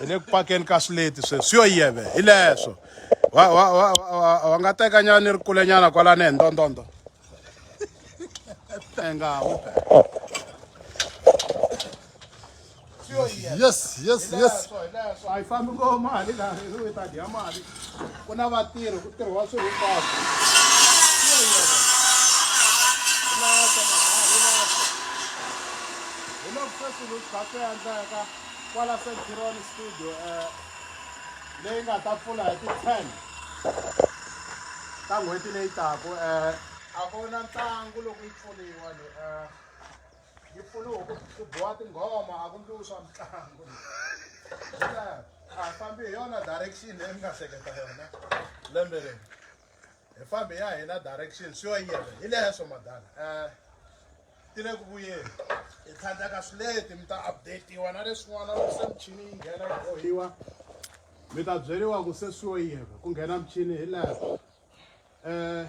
hi le ku pakeni ka swileti sweswi yo yeve hi leswo wa wa wa wa nga teka nyana ni ri kule nyana kwalani hi ndondondo tenga wu yes yes yes a yi fambi ngo mali laha yi ta dya mali ku na vatirhi ku tirhiwa swilo hinkwaswo hi loko sweswi lu kha swi endleka kwala centuron studio um leyi nga ta pfula hi ti-ten ta n'hweti leyi taku um a ku na ntlangu loko yi pfuriwa ni um yi pfuna ku ku boha tinghoma a ku ndliwi swa mitlangu a hi fambi hi yona direction leyi mi nga hleketa yona lembe leri hi fambi ya hina direction swi yo yena hi leswo madala um ti le ku vuyeni hi tlhandlaka swileti mi ta updatiwa na leswin'wana loko se michini yi nghena yi bohiwa mi ta byeriwa ku se swi yo yena ku nghena michini hi leswo um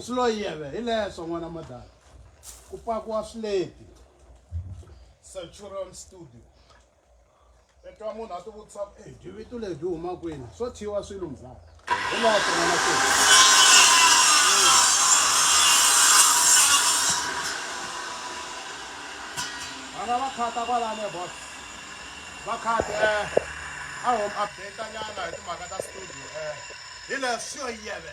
Swilo yeve hi leswo n'wana madala. Ku pakiwa swileti. Centurion Studio. I twa munhu a ti vutisa ku eh, byi vito lebyi huma kwini swo thyiwa swilo mzala hi leswo n'wana swilo vana va khata kwalani e bot va khati eh, a home update nyana hi timhaka ta studio eh, hi leswo yeve